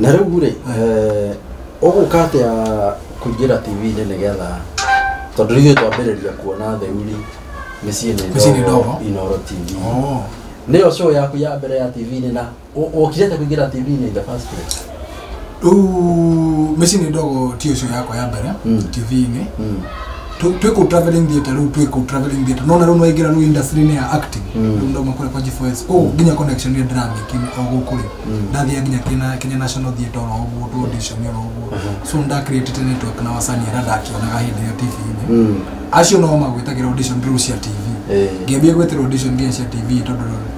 na rĩu rĩ eh, ũgũka atĩa kũingĩra tv-inĩ nĩgetha tondũ ithuĩ twambĩrĩria kuona theuri mĩciĩ Mĩciĩ nĩ nĩ ndogo ndogo. inoro tv Oh. nĩyo show yaku ya mbere ya tv-inĩ na Wokire ta kuingira TV in the first place. Rĩu mĩciĩ nĩ ndogo ti ũcio yakwa ya mbere Mm. TV-inĩ Mm. Tu- twĩ kũu traveling theatre rĩu twĩ kũu traveling theatre nona rĩu nwaingĩra rĩu industry-inĩ ya acting Mm. rĩu ndauma kũrĩa kwa G4S koguo nginya connection ĩrĩa ndĩramĩki o gũkũ rĩ Mm. ndathiaga nginya Kenya- Kenya National Theatre oro ũguo tu audition oro ũguo Aha. so nda created network na wasanii arĩa ndakĩonaga hĩndĩ ĩyo TV-inĩ Mm. acio no magwĩtagĩra audition rĩu cia TV Eh. ngĩambia gwĩtĩra audition nginya cia TV tondũ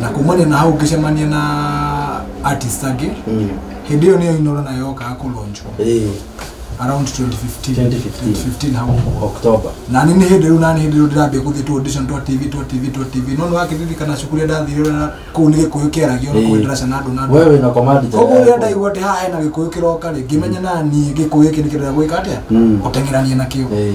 na kumania na hau ngĩcemania na artist angĩ Mm. hĩndĩ ĩyo nĩyo inoro nayo yokaga kũlonjwo Eh, around 2015 2015. 2015 hau ũguo. October. na nĩ nĩ hĩndĩ rĩu na nĩ hĩndĩ rĩu ndĩrambia gũthiĩ tu audition twa tv twa tv twa tv no nĩwakĩririkana cukuru ĩrĩa ndathire ũrĩa kũu nĩ gĩkũyũ kĩaragio na kũu Eh. ndaraca na andũ na andũ Wewe na command tena koguo rĩrĩa yako. ndaigua atĩ haha hena gĩkũyũ kĩroka rĩ ngĩmenya na niĩ gĩkũyũ gĩkĩ nĩ kĩrĩa gwĩka atĩa Mm. gũteng'erania nakĩo Eh,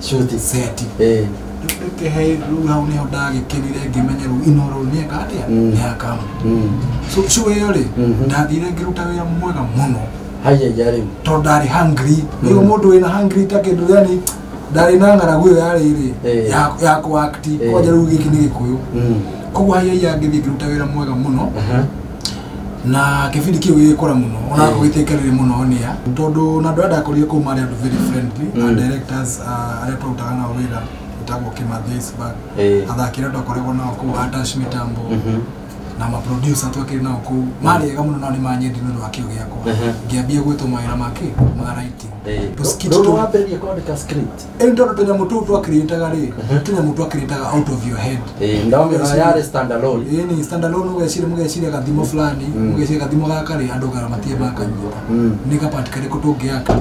Shoti seti. Eh. Nduke hei rĩu hau nĩho ndagĩkĩrire ngĩmenya rĩu inoro nĩeka atĩa Mm. nĩakamu Mm. so so ĩyo rĩ Mhm. ndathire ngĩruta wĩra mwega mũno Haya ya rĩu. tondũ ndarĩ hungry rĩu Mm. mũndũ wĩna hungry ta kĩndũ yani ndarĩ na ng'aragu ĩyo yarĩ rĩ Eh. ya- ya kũakti Eh. kwanja rĩu gĩkĩ nĩ gĩkũyũ Mm. koguo haiai angĩthiĩ ngĩruta wĩra mwega mũno Aha. na kĩbindi kĩu gĩgĩkũra mũno ona mm. gũgĩtuĩka rĩrĩ mũno nĩa tondũ na andũ arĩa ndakorire kũu marĩ andũ very friendly mm. and directors uh, arĩa twarutaga nao wĩra wĩtagwo kĩmathesbag eh. athaki arĩa twakoragwo nao kũu atash mitambo mhm. na maproducer twakĩrĩ nao kũu mm. marĩ ega mũno nao nĩ manyendi nĩ ũndũ wa kĩo gĩakwa mhm. ngĩambia gwĩtwo mawĩra makĩ ma writing eh. tũskit tũ wambĩrĩria kwandĩka script Ĩrĩ tondũ tũnyamũ tũu twakirĩtaga rĩ nĩ tũnyamũ twakirĩtaga out of your head Eh, ndio Ũgeciria- yale stand alone Ĩĩ nĩ standalone ũgeciria mũgeciria gathimo fulani mũgeciria gathimo gaka rĩ andũ gara matirĩ makanyita Mm. nĩ gapati karĩkũ tũngĩaka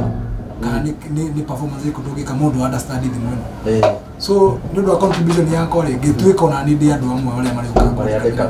kana nĩ- nĩ nĩ performance ĩrĩkũ tũngĩka mũndũ wa understand thimo ĩno Eh, so nĩ ũndũ wa contribution yakwa rĩ ngĩtuĩka ona nĩ ndĩ andũ amwe arĩa marĩũkaga Marĩa andĩkaga.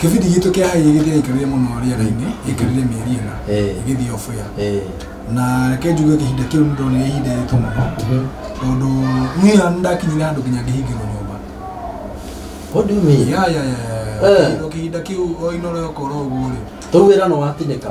Kĩbindi gitũ kĩa haĩ gĩgĩthiaga gĩkĩrũire mũno rĩera-inĩ gĩkĩrũire mĩeri ĩna Eh. gĩgĩthiĩ off air Eh. na reke njuge ihinda kĩu nĩ ndonire ihinda rĩritũ mũno Mhm. tondũ niĩ nĩ ndakinyire handũ nginya ngĩhingĩrwo nyũmba What do you mean? ya ya ya Eh. Kĩhindũkĩhinda kĩu o inoro okorwo ũguo rĩ Tũu wĩra nĩ watinĩka.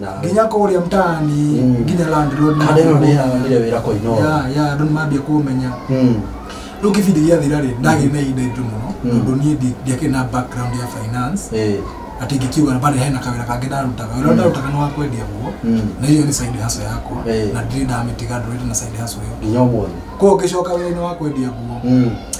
nawe nginya kũrĩa mtaani Mm. nginya landlord kana ĩno nĩ ya nire wĩra kwa ino ya ya andũ nĩmambia kũmenya Mm. rĩu kĩbindi gĩathira rĩ ndagĩrĩ na ihinda iritũ mũno Mm. tondũ niĩ ndi- ndiakĩrĩ na background ya finance Eh. atĩ ingĩkiuga bado hena kawĩra kangĩ ndarutaga wĩra ũrĩa ndarutaga nĩ wa kwendia nguo Mm. na hiyo ni side hustle yakwa Eh. na ndirĩ ndamĩtiga ndũrĩte na side hustle ĩyo nginya ũmũthĩ kwa ũngĩcoka wĩra-inĩ wa kwendia nguo Mm.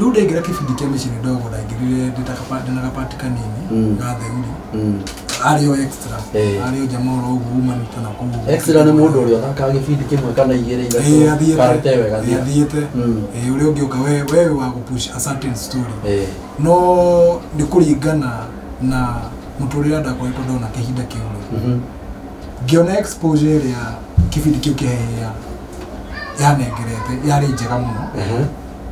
rĩu ndaingĩra kĩbindi kĩa mĩciĩ nĩ ndogo ndaingĩrire ndĩ ta kaba- ndĩ na gabati kanini Mm. ga theuri Mm. arĩ o extra Eh. arĩ o jamaa ũrĩa ũguo umanĩte na kũu Extra nĩ mũndũ ũrĩa ũthakaga gĩbindi kĩmwe kana igĩrĩ Eh, ithatũ athiĩte. karute wega Eh, athiĩte Mm. Eh, ũrĩa ũngĩ ũka we- wewe wa gũpush a certain story Eh, no nĩ kũringana na mũtũrĩre ndakoretwo ndona kĩhinda kĩu mhm. ngĩona exposure ĩrĩa kĩbindi kĩu kĩahehea yanengerete yarĩ njega mũno Aha.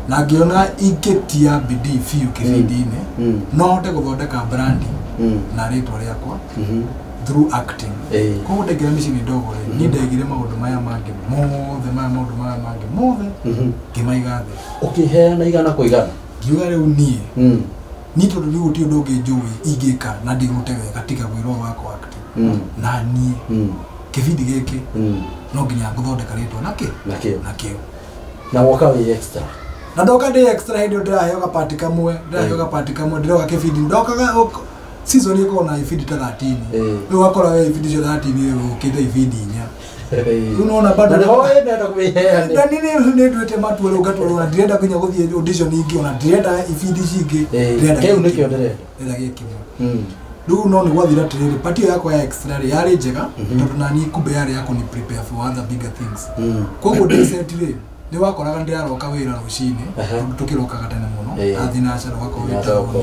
na ngĩona ingĩtia bidii biũ kĩbindi-inĩ Mm. no hote gũthondeka brandi Mm. na rĩtwa rĩakwa Mhm. through acting Eh. koguo ndaingĩra mĩciĩ-inĩ ndogo rĩ niĩ ndaigire maũndũ maya mangĩ mothe maya maũndũ maya mangĩ mothe Mhm. ngĩmaiga thĩ ũkĩheana igana kwa igana ngiuga rĩu niĩ Mm. niĩ tondũ rĩu gũtirĩ ũndũ ũngĩ njũĩ ingĩka na ndĩrute wega tiga wĩra ũyũ wakwa acting Mm. na niĩ Mm. kĩbindi gĩkĩ Mm. no nginya ngũthondeka rĩtwa nakĩ Nakĩo. nakĩo na woka wĩ extra na ndoka ndĩ extra hĩndĩ ĩyo ndĩraheo gapati kamwe ndĩraheo gapati kamwe ndĩroka kĩbindi ndokaga ũk- season ĩkorwo na ibindi ta 13 Eh. rĩu ũgakora we ibindi icio 13 rĩu ũkĩte ibindi inya Rĩu nĩwona bado- na nĩho wendete kwĩheane ndani nĩ nĩ nduĩte matua rĩu ngatwarwo na ndirenda nginya gũthiĩ audition ingĩ ona ndirenda ibindi ici ingĩ Eh, ndirenda kĩu kĩngĩ. nĩkĩo ndĩrenda ĩrĩa gĩkĩmwe Mm. rĩu no nĩ gwathira atĩrĩrĩ pati ĩyo yakwa ya extra rĩ yarĩ njega tondũ nani kumbe yarĩ ya kũni prepare for other bigger things Mm. koguo ndĩceti rĩ nĩ wakoraga ndĩraroka wĩra rũcinĩ Aha. tondũ tũkĩrokaga tene mũno Eh. athiĩ na acara ũgakorwo wĩ Inathoko, taũni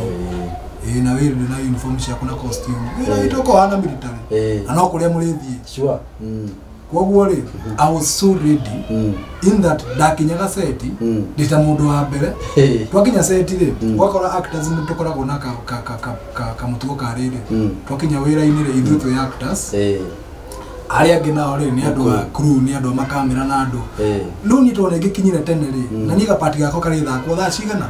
eh. ĩĩ na wĩra ndĩ na uniform ciaku na costume wĩra Eh. witũ ũkoragwo na military Eh. na no kũrĩa mũrĩthiĩ Sure. Mm. koguo rĩ i was so ready Mm. in that ndakinyaga seti Mm. ndita mundu wa mbere Hey. twakinya seti rĩ Mm. gwakora actors nĩ tũkoragwo na ka- ka- ka- ka- ka- kamutugo ka rĩrĩ Mm. twakinya wĩra-inĩ rĩ ithuĩ twĩ actors Eh, arĩa angĩ nao rĩ nĩ andũ a crew nĩ andũ a makamera na andũ eh. rĩu niĩ tondũ nĩ ngĩkinyire tene rĩ Mm. na niĩ gapati gakwa karĩthakwo thaa cigana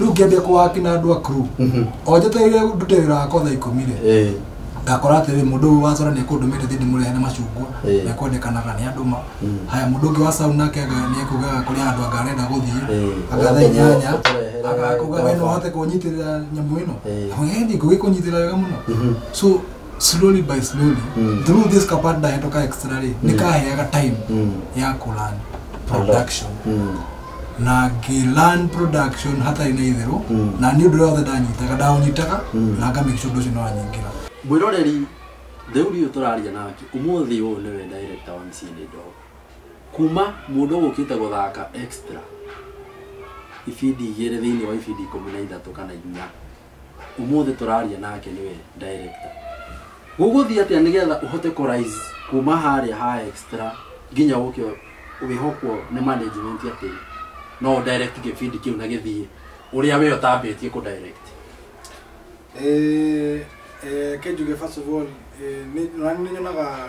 rĩu ngĩambia kũwaki na andũ a crew Mhm. o njetereire ndute wĩra wakwa thaa ikũmi rĩ Eh, ndakora atĩrĩ mũndũ ũyũ wa cora nĩ ekũndũmĩte thiĩ ndĩmũrehe nĩ macungwa Eh. nĩ ekwendekanaga nĩ andũ ma Mm. haya mũndũ ũngĩ wa sauna nake aga- nĩ ekugaga kũrĩ andũ anga arenda gũthiĩ Eh. agatha inyanya Ũtũrehere agakuga we no ngoroba." ũhote kũnyitĩrĩra nyamũ ĩno Eh. Akamwĩra, "Eh, nĩ ngũgĩkũnyitĩrĩra wega mũno Mhm. so slowly by slowly Mm. through this kapart ndahetoka extra rĩ nikaheaga time Mm. ya kulan production Mm. na ngilan production hatarĩ na itherũ Mm. na nĩ ũndũ ũrĩa wothe ndanyitaga ndaũnyitaga Mm. na ngamake sure ũndũ ũcio nĩwanyingĩra mwĩroreri rĩu riũ tũraria nake ũmũthĩ ũyũ nĩwe director wa mcĩ nĩ ndogo kuma mũndũ gũkĩte gũthaka extra ibindi igĩrĩ thĩinĩ wa ibindi ikũmi na ithatũ kana inya umuthi turaria nake niwe director guguthia atia nigetha uhote ku rise kuma haria ha extra nginya uke wihokwo ni management ati no direct gibindi kiu na githie uria we utambitie ku direct Eh, eh, kĩnjuge first of all eh, nĩ- na nĩ nyonaga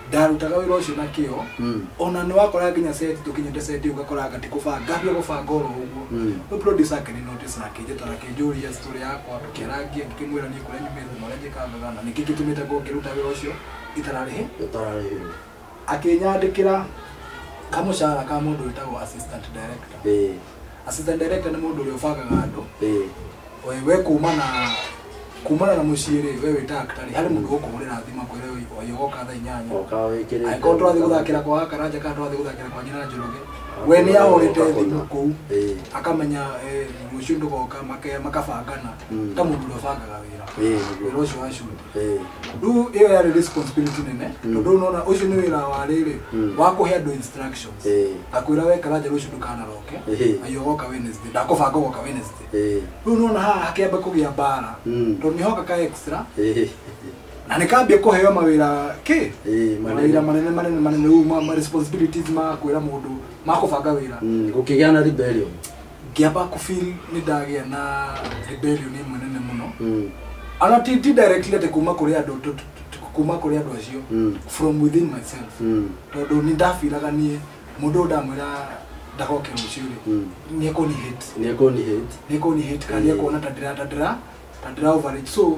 ndarutaga wĩra ũcio na kĩo Mm. ona nĩ wakora nginya seti tũkinyĩte seti ũgakora anga tikũbanga ngambia gũbanga oro ũguo Mm. no producer ake nĩ notice akĩnjĩta na akĩnjũria story yakwa tũkĩarangia ngĩkĩmwĩra niĩ kũrĩa nyumĩte na ũrĩa njĩkangaga na nĩkĩ gĩtũmĩte ngo ngĩruta wĩra ũcio itararĩhe Ũtararĩhĩrwo. akĩnyandĩkĩra kamũcara ka mũndũ wĩtagwo assistant director Ĩĩ. Assistant director nĩ mũndũ ũrĩa ũbangaga andũ. Eh. Oe we kumana kumana na mũciĩ rĩ, we wĩta actor rĩ, harĩ mũndũ ũkũhũrĩra thimũ akwĩre oe oe ũgoka thaa inyanya. Oka wĩkĩrĩte. Angĩkorwo tũrathiĩ gũthakĩra kwa Karanja kana tũrathiĩ gũthakĩra kwa Nyina Njoroge, we nĩ ahũrĩte thimũ kũu, Eh. akamenya eh, rũciũ ndũgoka, make- makabangana. Mm. Ta mũndũ ũrĩa ũbangaga wĩra. Eh, nĩguo. Wĩra ũcio wa shoot. Eh, rĩu ĩyo yarĩ responsibility nene tondũ nona ũcio nĩ wĩra wa rĩrĩ wa kũhe andũ instructions Eh. ndakwĩra wekara nja rũciũ ndũkanaroke Eh. na yogoka Wednesday ndakũbanga ũgoka Wednesday eh, rĩu nona haha hakĩamba kũgĩa mbara Mm. tondũ nĩhoka ka extra eh, na nĩkambia kũheo mawĩra kĩ eh, mawĩra manene. manene manene manene rĩu ma- ma responsibilities ma kwĩra mũndũ ma kũbanga wĩra Mm, gũkĩgĩa na rebellion ngĩamba kũ feel nĩ ndagĩa na rebellion ĩmwe nene mũno Mm. ana ti ti directly atĩ kuma kũrĩ andũ tu- tu- tu- kuma kũrĩ andũ acio Mm. from within myself Mm. tondũ nĩ ndabiraga niĩ mũndũ ũyũ ndamwĩra ndagoke rũciũ rĩ Mm. nĩ ekũni hate nĩekũni hate nä kå nä hate kana nä ekuona ta ndä ra ta ndä ra ta ndä ra overage so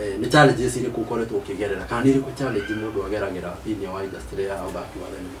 Eh, nĩ challenges irĩkũ ũkoretwo ũkĩgerera kana nĩ irĩkũ challenge mũndũ ageragĩra thĩinĩ wa industry ya ũthaki wa thenema